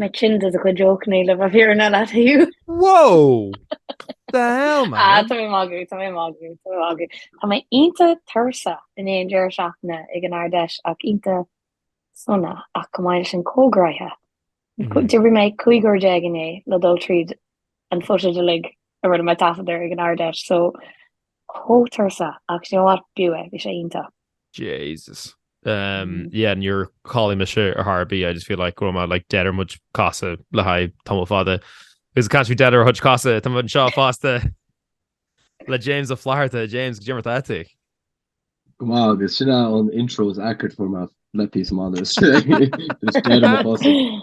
Mé tinn de do chuid jokeanna le bheith fírinneach leat. Whoa! The hell man? Ah, tá mé magadh, tá mé magadh, tá mé magadh. Tá mé iontach tuirseach i ndiaidh an deireadh seachtaine ag an Ard-Fheis ach iontach sona ach go bhfuil sin socraithe. D'oibrigh mé cúig uair déag inné le dul tríd an footage uilig a rinne mé taifeadadh air ag an Ard-Fheis so Chomh tuirseach, ach do you know what, b'fhiú é, bhí sé iontach. Jesus umm yeah níor chodlaigh mise ar chor ar bith, I just feel like go raibh mé like dead ar mo chuid cosa le haghaidh tamall fada because I can't be dead ar mo chuid cosa tá muid anseo fosta le James Ó Flatharta, James cad é mar atá tú? Go maith, agus sin é an intro is accurate a fuair mé le píosa maith anois, just dead ar mo chosa.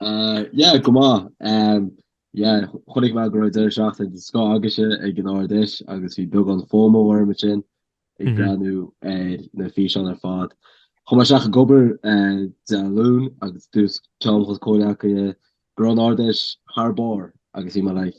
Ah yeah go maith ehm yeah chonaic mé go raibh deireadh seachtaine den scoth agaibhse ag an Ard-Fheis agus bhí beagán FOMO orm ansin ag breathnú ar na físeáin ar fad. Chuaigh mé isteach ag obair eh Dé Luain agus dúirt ceann de mo chomhghleacaithe go raibh an Ard-Fheis thar barr agus bhí mé like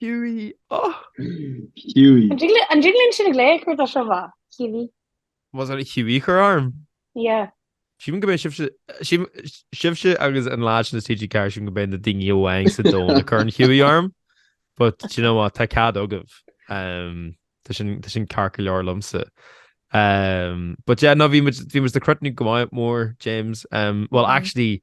Hughie! Oh! Hughie! An dtig linn an dtig linn sin ag léigh chuir do seo bha. Hughie. Más ar Hughie chur orm? Yeah. Sílim go mbeidh sibhse sí- sibhse agus na lads in TG4 sílim go mbeidh na daoine amháin sa domhan a chuireann Hughie orm but do you know what tá cead agaibh um, tá sin tá sin ceart go leor liomsa. Um, but yeah, no bhí muid bhí muid ag crothnú go maith mór James um, well Mm. actually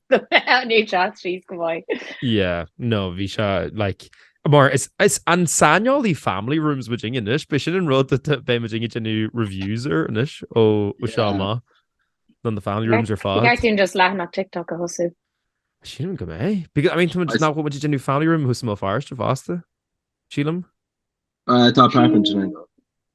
NHS síos go maith. Yeah, no, bhí sé like, mar is saineolaithe family rooms muidinne anois, beidh sin an rud atá, beidh muidinne ag déanamh reviews air anois ó seo amach. Nó na family rooms ar fad. Ceart dúinn just leathanach TikTok a thosú. Sílim go mbeidh. Because, I mean, tá muid, nach bhfuil muid déanamh family room thuas i mBéal Feirste fosta, sílim? Tá apartment in Éirinn.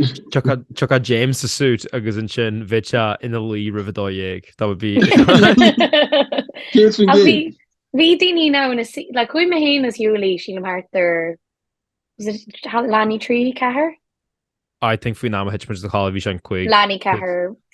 Tiocfaidh James sa suit agus ansin bheadh sé ina luí roimh a dó dhéag. That would be... Bhí daoine ann, like chuaigh mé féin is Hughie, sílim thart ar, was it leath i ndiaidh 3, 4? I think faoin am a thit mé a chodladh bhí sé an 5... leath i ndiaidh 4,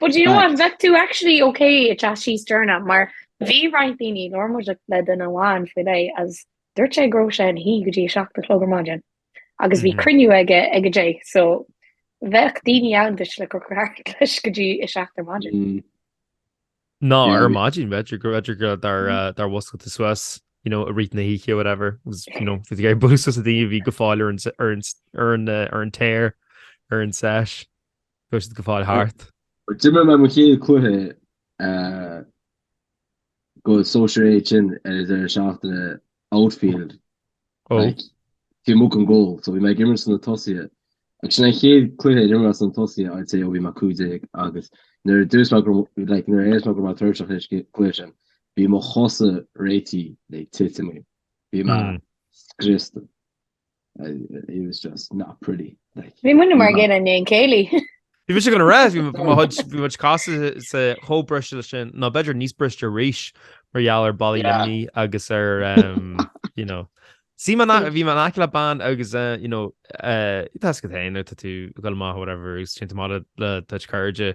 But you know what, bheadh tú actually okay ag teacht síos dúrna, mar bhí roinnt daoine labhair muid le duine amháin faoi leith is dúirt sé go raibh sé ina shuí go dtí a seacht a chlog ar maidin agus bhí cruinniú aige ag a deich so bheadh daoine ann duit le craic leis go dtí a seacht ar maidin. No, yeah. ar maidin b'fhéidir go b'fhéidir go dar uh, gur mhúscail tú suas you know i rith na hoíche whatever agus you know fi ga bu daoine a bhí go fóill ar an ar an ar an tear ar an seis. Chuir siad go fóill thart. D'imir mé mo chéad chluiche go Sóisear A ansin ar an deireadh seachtaine, outfield, like taobh amuigh den goal, so bhí mé ag imirt sna tosaithe agus sin an chéad chluiche a d'imir mé sna tosaithe I'd say ó bhí mé cúig déag agus nuair a dúirt mé go, like nuair a déarfas mé go raibh mé tuirseach leis an gcluiche sin, bhí mo chosa réitithe le titim, bhí mé scriosta. It was just not pretty. Bhí muid maidin i ndiaidh an chéilí. Bhí muid an raibh bhí mo chuid cosa-sa chomh briste leis sin nó b'fhéidir níos briste arís mar gheall ar bailí imní agus ar sí bhí mé in aice le bean agus tá tú ag dul amach whatever sin le do chuid cairde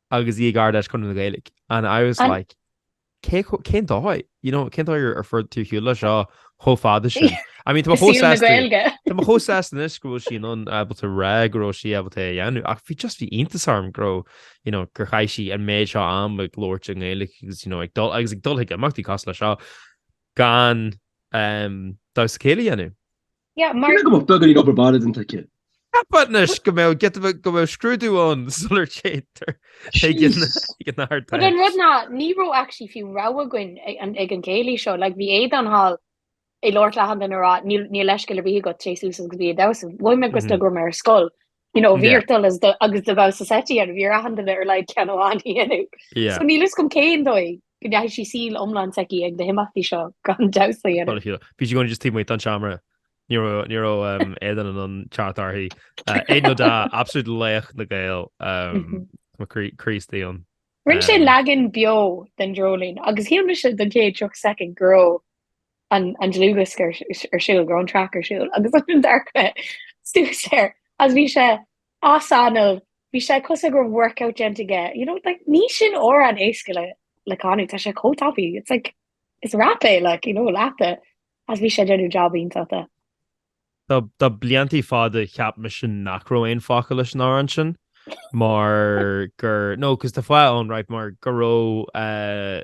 Agus í ag Ardfheis Chonradh na Gaeilge and I was like cé chomh, cén dóigh? You know, cén dóigh ar fuair tú ar shiúl leis seo chomh fada sin? I mean, tá, tá mé chomh sásta anois go bhfuil sí in ann ábalta rá go raibh sí ábalta é a dhéanamh ach bhí just bhí iontas orm go raibh, you know, gur chaith sí an méid seo am ag labhairt i nGaeilge agus, you know, ag dul agus ag dul chuig imeachtaí cosúil leis seo gan ehm, damhsa céilí a dhéanamh. Yeah, mar. Cé go mbeadh beagáinín obair bhaile déanta aici. But anois go mbeadh, giota, go mbeadh scrúdú ann sula dtéitear ag an, ag an Ardfheis. But an rud ná, ní raibh actually fiú rogha againn ag an, ag an chéilí seo. Like, bhí Aodhán thall ag labhairt le achan duine ag rá, níl, níl leithscéal ar bith agat, téigh suas agus bí ag damhsa. Mhothaigh mé go sna go raibh mé ar scoil. You know, bhí ort dul as do agus do ghabhas as eití ar bhí ar achan duine ar a laghad ceann amháin a dhéanamh. So níl a fhios agam cén dóigh go ndeachaigh sí saol iomlán s'aici ag na himeachtaí seo gan damhsa a dhéanamh. Bhí sí i gcónaí just taobh amuigh den tseomra. Ní raibh, ní raibh aon duine in ann teacht uirthi. Aodhán Ó Deá, absolute laoch na nGael, mo chroí, croí istigh ann. Rinne sé leagan beo den Dreoilín agus shíl mise don chéad 30 soicind go raibh an dlúthdhiosca ar siúl, go raibh an track ar siúl agus d'amharc mé suas air agus bhí sé as anáil, bhí sé cosúil go raibh workout déanta aige, you know like ní sin amhrán éasca le le canadh, tá sé chomh tapaidh, it's like is rap é like you know leath de agus bhí sé ag déanamh job iontach de. Tá tá bliantaí fada cheap mise nach raibh aon fhocail leis an amhrán sin mar gur nó cos tá fáth ann right mar go raibh eh,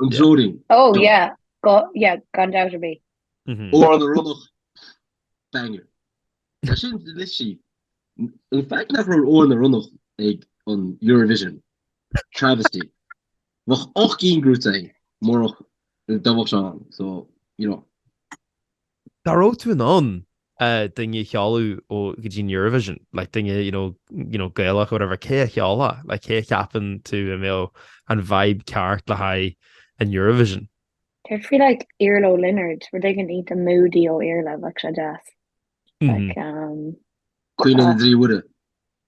An Dreoilín. Oh yeah yeah gan dabht ar bith. Amhrán na Ronnach banger. Tá sin literally an fact nach raibh Amhrán na Ronnach ag an Eurovision, travesty. Bheadh ocht gcinn gnóthaithe againn murach, dá mbeadh sé ann so you know. dá raibh tú in ann duine a sheoladh go dtí an Eurovision, like duine you know, you know Gaelach or whatever, cé a sheolfá? Like cé a cheapann tú a mbeadh an vibe ceart le haghaidh an Eurovision? Céard faoi like Iarla Ó Lionaird, rud éigin iontach moody ó Iarla, bheadh sé deas. Like, um. Caoineadh na dTrí Muire.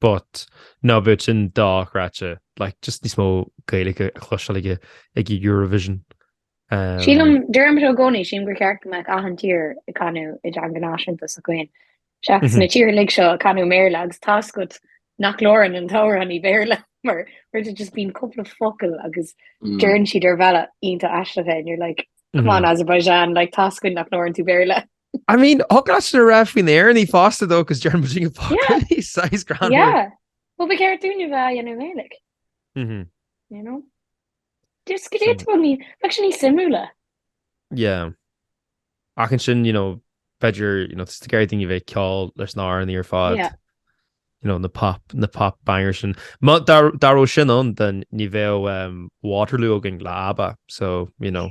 But ná beadh sin dochreidte, like just níos mó Gaeilge a chloisteáil ag ag Eurovision. Sílim, deirim seo i gcónaí, sílim gur cheart go mbeadh achan tír ag canadh i dteanga náisiúnta s'acu féin. Seachas na tíortha uilig seo ag canadh i mBéarla agus tá 's agat nach labhrann an t-amhránaí Béarla mar there's just bíonn cúpla focal agus deireann siad ar bhealach iontach aisteach é and you're like, come on Azerbaijan, like tá 's againn nach labhrann tú Béarla. I mean, thig leat sin a rá faoi na hÉireannaigh fosta though agus deir muid go fácáí sais grand. Yeah. Well, ba cheart dúinne bheith á dhéanamh i nGaeilic. Mhm. You know? Just go dtí tú ní... bheadh sé níos suimiúla. Yeah. Ach ansin, you know, b'fhéidir, you know, tá tú ag iarraidh daoine bheith ag ceol leis na hÉireannaigh ar fad. Yeah. You know, na pop, na pop bangers sin. Má, dá, dá raibh sin ann, then, ní bheadh um, Waterloo againn le ABBA, so, you know,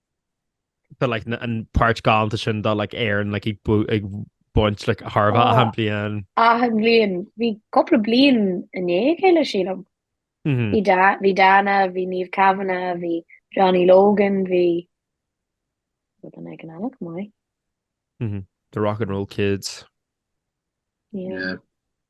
But like an páirt galánta sin de like Éireann like ag bú- ag baint like chóir a bheith achan Oh. bhliain. Achan bhliain. Bhí cúpla bliain i ndiaidh a chéile sílim. Mhm. Bhí Da- bhí Dana, bhí Niamh Kavanagh, bhí Johnny Logan, bhí run againn iontach maith. The Rock and Roll Kids. Yeah. Yeah.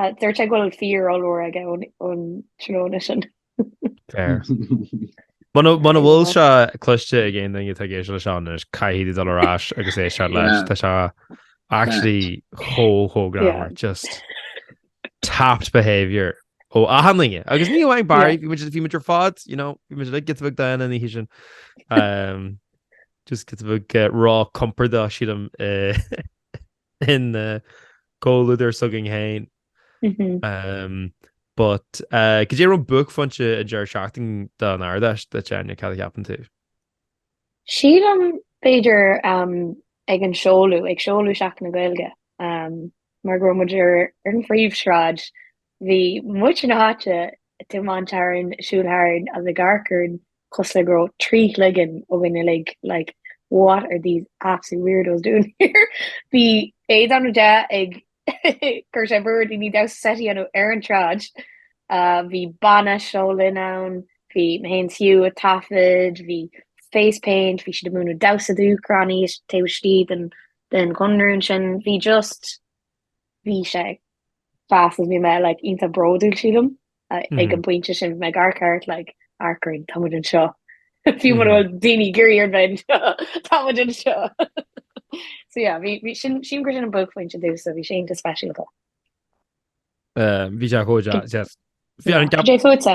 Dúirt sé go bhfuil fear ollmhór aige ón tráthnóna sin. Fair. Muna bhfuil sé cloiste ag aon duine atá ag éisteacht leis seo anois, caithfidh tú dul ar ais agus éisteacht leis. Tá sé actually chomh, chomh greannmhar. Just tapped behaviour ó achan duine. Agus ní amháin Barry, bhí muid, bhí muid ar fad, you know, bhí muid giota beag dána an oíche sin. Just giota beag róchompordach, sílim, ina gcomhluadar s'againn féin. But cad é raibh buaicphointe an deireadh seachtaine don Ard-Fheis duit, Áine, cad a cheapann tú? Sílim b'fhéidir ag an seoladh, ag seoladh Seachtain na Gaeilge mar go raibh muid ar an phríomhshráid Bhí muintir na háite ag tiomáint tharainn, ag siúl tharainn agus ag amharc orainn cosúil le go raibh trí chloigeann againn uilig, like what are these absolute weirdos doing here? Bhí Aodhán Ó Deá ag cur sé brú ar dhaoine damhsa seite a dhéanamh ar an tsráid, bhí banna Seo Linn ann, bhí mé féin is Hugh a' taifead, bhí Face Paint, bhí siad ag múineadh damhsa do Úcránaigh taobh istigh den den Chonradh ansin, bhí just, bhí sé fás agus bhí mé like iontach bródúil sílim ag an bpointe sin, bhí mé ag amharc thart like amharc orainn, tá muid anseo, fiú mura bhfuil daoine ag iarraidh orainn bheith anseo, tá muid anseo! So yeah, bhí, bhí, sin, sílim gur sin an buaicphointe domh, so bhí sé iontach speisialta. Bhí sé chomh deas. Bhí an gceap. Cad é fútsa?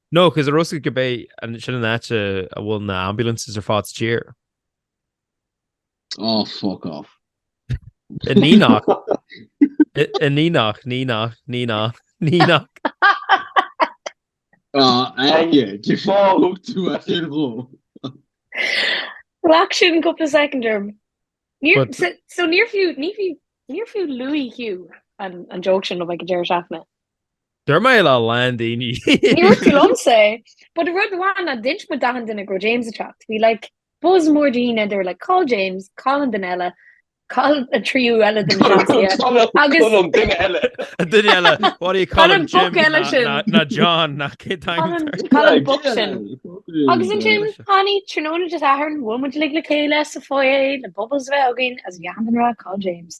No, cos an raibh a fhios agat gurb é sin an áit a bhfuil na ambulances ar fad sa tír. Oh fuck off. In Nenagh. In Nenagh, Nenagh, Nenagh, Nenagh. Ah, aye, cén fáth a thug tú as aon ghleo? Ghlac sin cúpla soicind orm. Níor, so, so níor fiú, ní fiú, níor fiú le Hugh an, an joke sin, nó bheadh go deireadh seachtaine. Deir mé le lán daoine. Níor fiú liomsa é. But rud amháin ná d'inis muid d'achan duine go raibh James ag teacht. Bhí like buzz mór daoine, they were like cá bhfuil James, cá bhfuil an duine eile, cá bhfuil an tríú eile de na Seansálaithe agus Cá bhfuil an duine eile. An duine eile, what do you call Cá bhfuil him, an boc Jim? eile Ná- sin. ná- Ná John, ná cén Cá bhfuil an, t-ainm cá bhfuil an boc sin. Agus ansin, tháinig tráthnóna Dé Sathairn, bhuail muid uilig le chéile sa foyer, le bubbles a bheith againn, is achan duine ag rá, cá bhfuil James.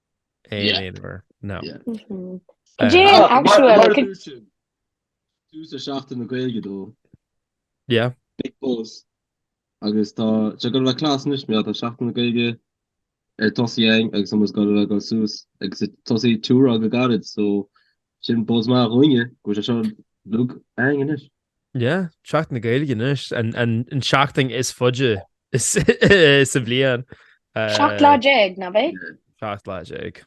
Aon aonfhir, no. Cad é an actual? Tús ar Seachtain na Gaeilge dó. Yeah. Big buzz. Agus tá, seo ag gabháil a bheith class anois mar, tá Seachtain na Gaeilge ar tosaí againn agus muid ag gabháil a bheith ag dul suas agus ag tosaí tour againn go gairid so sin buzz maith dúinne go bhfuil sé seo againn anois. Yeah, Seachtain na Gaeilge anois, an tseachtain is faide sa bhliain. Seacht lá déag, nach b'é? Seacht lá déag.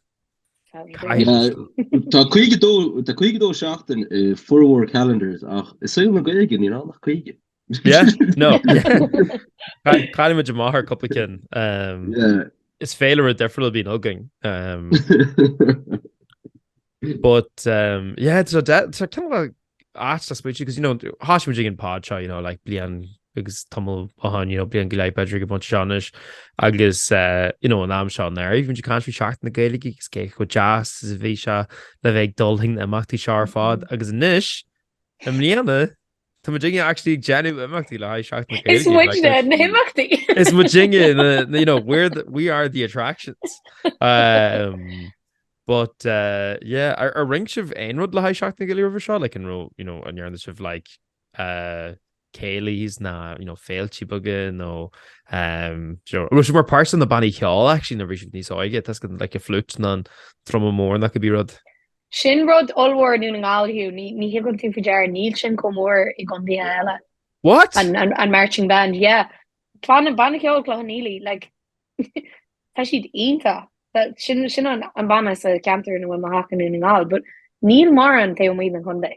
Tá 52 seachtain i formhór calendars ach i saol na Gaeilge níl ann ach 50. Yeah, no. Cailleann muid amach ar cúpla cinn. Is féilire difriúil a bhíonn againn. But umm yeah so de- so cineál ait I suppose because you know thosaigh muid ag an pod seo you know like bliain agus tamall ó shoin you know bliain go leith b'fhéidir ag an bpointe seo anois agus eh you know an am seo anuraidh bhí muid ag caint faoi Seachtain na Gaeilge agus cé chomh deas is a bhí sé le bheith ag dul chuig na himeachtaí seo ar fad agus anois i mbliana Tá muidinne actually ag déanamh imeachtaí le haghaidh Seachtain na Is Gaeilge. Like, muidne there's- na himeachtaí. Is muidinne, na, na- you know, we're the, we are the attractions. Um, but, uh, yeah, ar, ar rinne sibh aon rud le haghaidh Seachtain na Gaeilge roimhe seo? Like, an raibh, you know, an ndearna sibh, like, uh, céilís nó, you know, féiltí beaga nó um, sure. Raibh sibh mar pháirt sna bannaí ceoil, actually, nuair a bhí sibh níos óige, tá's agat, like, an flute nó an druma mór nó cibé rud. Sin rud ollmhór i nDún na nGall, Hugh, ní thugann tú faoi deara, níl sin chomh mór i gcontaetha eile. What? An marching band, yeah. Tá an Banna Ceoil Chloich Cheann Fhaola, like tá siad iontach. Sin an banna sa cheantar ina bhfuil mo theach i nDún na nGall, but níl mórán taobh amuigh den chontae.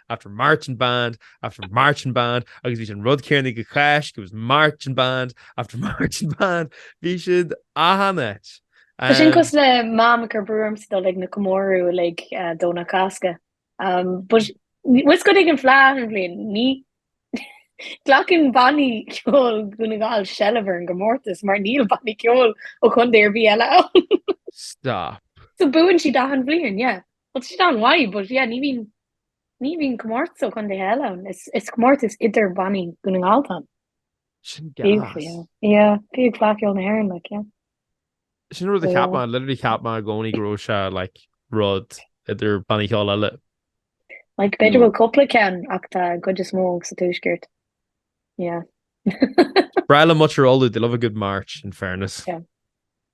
after marching band, after marching band, agus bhí an rud céanna go cáis, go was marching band, after marching band, bhí siad achan áit. Sin cosúil le mam agus brúm ag dul chuig na comóradh like Domhnach Cásca. But what's good ag an fhleadh achan bhliain? Ní ghlacann bannaí ceoil Dhún na nGall seilbh ar an gcomórtas mar níl bannaí ceoil ó chontae ar bith eile ann. Stop. So buann siad achan bhliain, yeah. Well tá siad iontach maith but yeah ní bhíonn Ní bhíonn comórtas ó chontaetha eile ann, is comórtas idir bannaí Dhún na nGall atá ann. Yeah, fiú Fleadh Cheoil na hÉireann, like, yeah. Sin an rud a cheap mé, literally cheap mé i gcónaí go raibh sé like rud idir bannaí ceoil eile. Like b'fhéidir go bhfuil cúpla ceann ach tá an chuid is mó sa tuaisceart. Yeah. Breá liom muintir Uladh, they love a good march, in fairness. Yeah.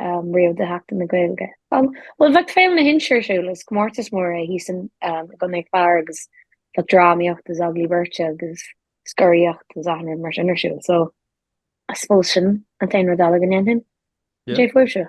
riamh do Sheachtain na Gaeilge. Bhuel, bhíodh Féile na hInse ar siúl, is comórtas mór é thíos i gContae an Chláir agus bhíodh drámaíocht agus agallaimh beirte agus scoraíocht agus achan rud mar sin ar siúl so I suppose sin an t-aon rud eile go ndéanfainn. Céard fútsa?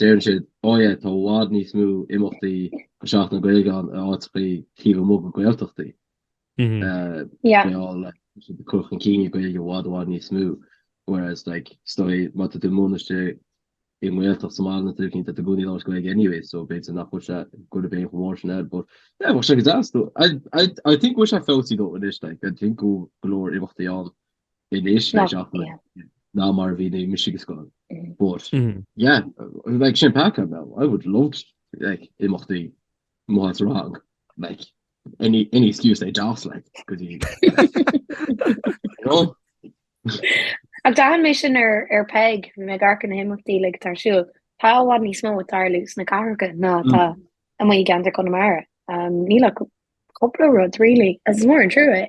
Deireann siad, oh yeah, tá i bhfad níos mó imeachtaí do Sheachtain na Gaeilge ann in áiteachaí taobh amuigh de Ghaeltachtaí. Yeah. They all like, tá siad ag cur chun cinn na Gaeilge i bhfad i bhfad níos mó. Whereas like, is dóigh má tá tú i mo bhaile-se i nGaeltacht sa mbaile, tá daoine i gcónaí ag labhairt Gaeilge anyway, so b'fhéidir nach bhfuil sé an bhéim chomh mór sin air, but yeah, bheadh sé go deas though. I, I, I think go bhfuil sé ag fáil níos fearr though anois, like, I think go leor imeachtaí ann anois now ná mar a bhí nuair a bhí mise ag an scoil. But yeah, like sin pointe now, I would love to like imeachtaí má tá rang like any any excuse they just like because you know? Ach d'aithin mé sin ar ar Peig bhí mé ag amharc ar na himeachtaí like atá ar siúl. Tá i bhfad níos mó ag tarlú sna cathracha ná atá amuigh i gceantar Chonamara. Níl ach cúpla rud really agus is mór an trua é.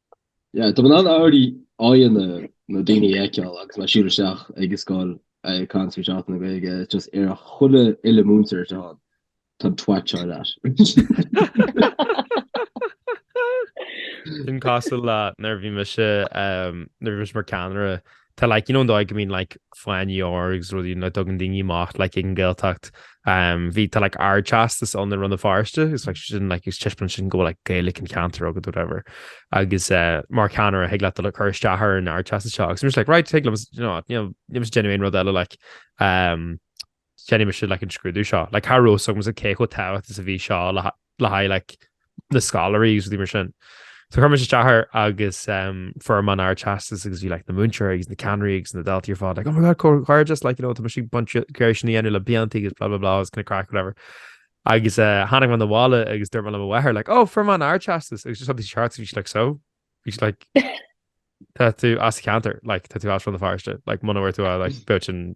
Yeah, tá mé in ann already aghaidheanna na daoine a fheiceáil agus mé ag siúl isteach ag an scoil ag caint faoi Sheachtain na Gaeilge it's just ar a chuile dhuine múinteoir atá ann tá an t-ádh leat. Sin cosúil le nuair a bhí mise um, nuair a bhí mise mar ceannaire tá like you know an dóigh go mbíonn like fáinní óir agus rudaí a dtugann daoine amach like ag an Ghaeltacht um bhí tá like ardteastas ann i Rann na Feirste agus like is é sin like taispeánann sin go bhfuil like Gaelic an cheantair agat whatever agus eh mar cheannaire thig leat cur isteach ar an ardteastas seo agus I'm just like right thig liom you know níl mé ag déanamh aon rud eile like um Déanfaidh mise an scrúdú seo. Cha raibh a fhios agamsa cé chomh tábhachtach is a bhí seo le haghaidh na scoláirí agus rudaí mar sin. So chuir mise isteach air agus fuair mé an ardteastas agus bhí na múinteoirí agus na ceannairí agus na daltaí ar fad like "Oh my god comhghairdeas, like you know tá muid ag baint ag iarraidh sin a dhéanamh le blianta agus blah blah blah it's kind of craic whatever". Agus tháinig mé abhaile agus dúirt mé le mo mháthair like "Oh fuair mé an ardteastas" agus she saw these charts and she's like "So?" She was like "Tá tú as an cheantar, like tá tú as Rann na Feirste, like muna bhfuair tú é like bheadh sin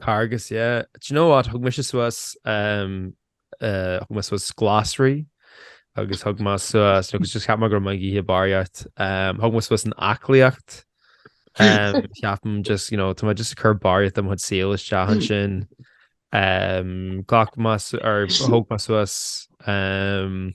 Carghas, yeah. Do you know what, thug mise suas ehm eh thug mé suas glasraí agus thug mé suas, you know, cos just cheap mé go raibh mé ag ithe barraíocht, ehm thug mé suas an aclaíocht ehm ceapaim just, you know, tá mé just ag cur barraíocht de mo chuid saoil isteach ansin. Ehm ghlac mé su- or thug mé suas ehm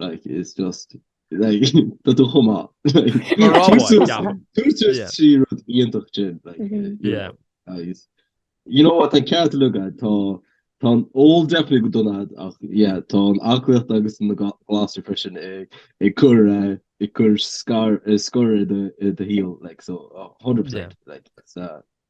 Like is just like tá tú chomh maith. Mar rá amháin, Tús deamhan. tús tús Yeah. trí rud iontach sin. Like, Mhm. you know, Yeah. agus- You know what, tá an ceart uilig agat, tá tá an ól definitely go dona dhuit ach yeah, tá an aclaíocht agus na ga- glasraí freisin ag ag cur eh, ag cur scar- eh, scor i do i do shaol like so oh, 100% like it's uh,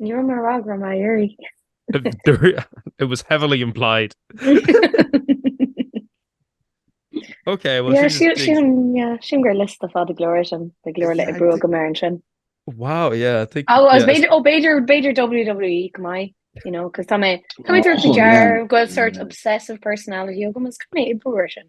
Ní raibh mé ag rá go raibh mé ag iarraidh. It was heavily implied. Ok well yeah she she yeah sílim gur liosta fada go leor sin de go leor le brú go mar an sin. Wow yeah I think oh b'fhéidir oh b'fhéidir b'fhéidir WWE go mai you know cos tá mé tá mé ag tabhairt faoi deara go bhfuil sort obsessive personality agam is go mé i brú sin.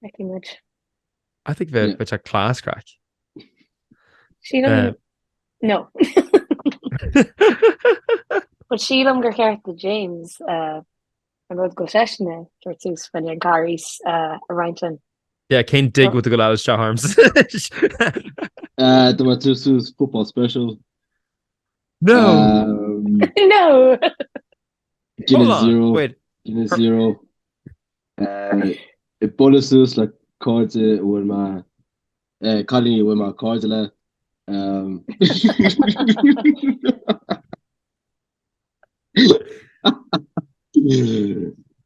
Feicfidh muid. I think bheadh sé class craic. Sílim, no. But sílim gur cheart do James an rud go bhfuil seisean ag tabhairt suas fá choinne an Charghais a roinnt linn. Yeah, cha dtig leat gabháil isteach arms? Tá mé ag tabhairt suas football special. No! No! Hold on, wait. Guinness Zero. Ag bualadh suas le cairde a bhfuil mé, eh, cailíní a bhfuil mé cairde le, eh.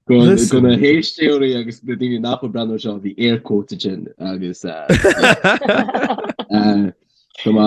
Do, do na héisteoirí agus na daoine nach bhfuil ag breathnú ar seo, bhí air quotes ansin agus, eh, eh, go mba,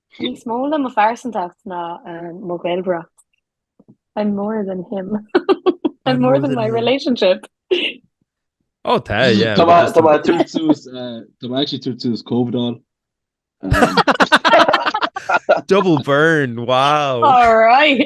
Níos mó le mo phearsantacht ná mo Ghaeilgeoireacht. I'm more than him. I'm more than my relationship. Oh, tá, yeah. Tá mé- tá mé ag tabhairt suas, eh, tá mé actually ag tabhairt suas COVID on. Um, Double burn, wow. All right.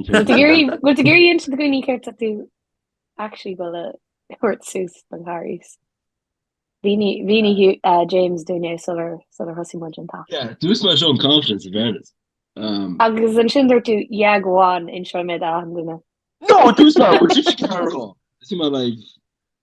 Bhfuil tú ag iarraidh insint do dhaoine céard tá tú actually dul a thabhairt suas don Charghas? Mhínigh James dúinn é sular thosaigh muid an t-alt. Yeah, dúirt mé seo in confidence in fairness. Agus ansin dúirt tú, Yeah, go on, inseoidh mé d'achan duine. No, dúirt mé, Would you care at all? Is bhí mé like,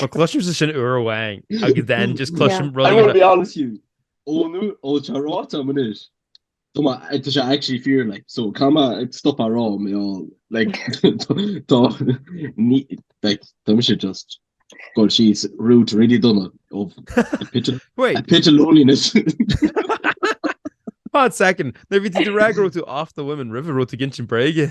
Má chloisimse sin uair amháin agus then just cloisim rud. I want to be honest with you. Ó nó ó tá ráite a'm anois. Tá má tá sé actually fíor like so cá má ag stop á rá mé á like tá ní like tá mise just God she's rude really done it of a pitch of Wait. a pitch of loneliness. Hot second. Nuair bhí tú ag rá go raibh tú off the women roimhe raibh tú ag insint bréige.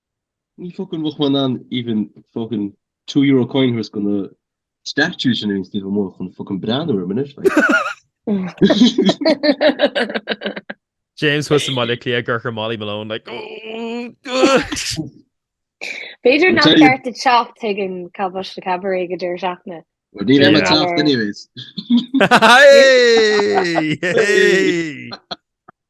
Ní fucking bheadh mé in ann even fucking two euro coin thuas go na statues sin ar an suíomh amuigh chun fucking breathnú orm anois like. James thuas i mBaile Átha Cliath ag dearcadh ar Molly Malone like oh. B'fhéidir nach ceart teacht chuig an Cabáiste Cabaret ag an deireadh seachtaine. Well ní raibh mé ag teacht anyways. Hey! Hey!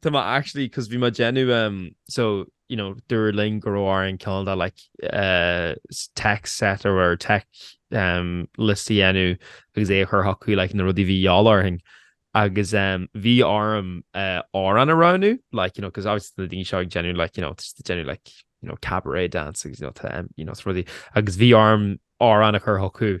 Tá mé actually, 'cause bhí mé ag déanamh em, so, you know, dúradh linn go raibh orainn cineál de like eh tech set or whatever, tech em list a dhéanamh agus é a chur chucu like na rudaí a bhí a dhíobháil orainn agus em bhí orm eh amhrán a roghnú like, you know, 'cause obviously tá na daoine seo ag déanamh like, you know, tá siad ag déanamh like, you know, cabaret dance agus you know tá em, you know, tá rudaí agus bhí orm amhrán a chur chucu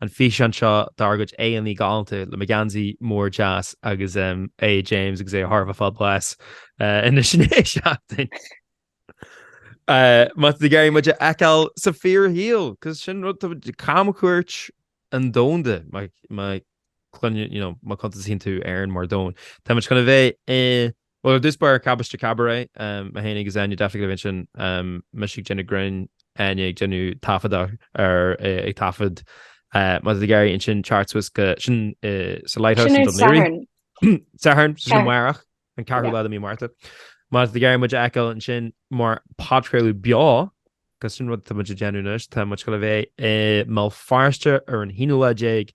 An físeán seo dár gcuid éadaí galánta le mo gheansaí mór deas agus eh James agus é thar a bheith fabulous eh ina sinéad seachtain. Eh má tá tú ag iarraidh muid a fheiceáil sa fíorshaol, cos sin rud tá muid camchuairt an domhanda má má cluinne you know má chuntasaíonn tú Éirinn mar domhan. Tá muid chun a bheith i Bhuel, ar dtús b'ar Cabáiste Cabaret mé fhéin agus Áine definitely ag a bheith ansin, mise ag déanamh grinn, Áine ag déanamh taifeadadh ar, ag taifead, má tá tú ag iarraidh ansin teacht suas go, sin sa Lighthouse in Dún Laoghaire, Satharn, sin amárach, an ceathrú lá de mhí Márta, má tá tú ag iarraidh muid a fheiceáil ansin mar podchraoladh beo, cos sin rud atá muid ag déanamh anois, tá muid goil a bheith i mBéal Feirste ar an aonú lá déag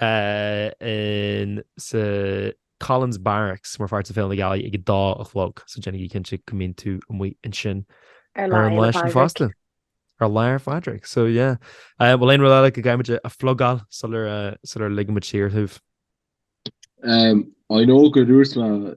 in sa Collins Barracks mar pháirt de Féile na Gealaí ag a dá a chlog, so déanaigí cinnte go mbíonn tú amuigh ansin ar an lá sin fosta. Ar lá Fhéile Pádraig, so yeah. Eh, bhfuil aon rud eile go gcaithfimid a phlugáil sular, eh, sular ligimid saor thú? Em, I know go dtabharfas mé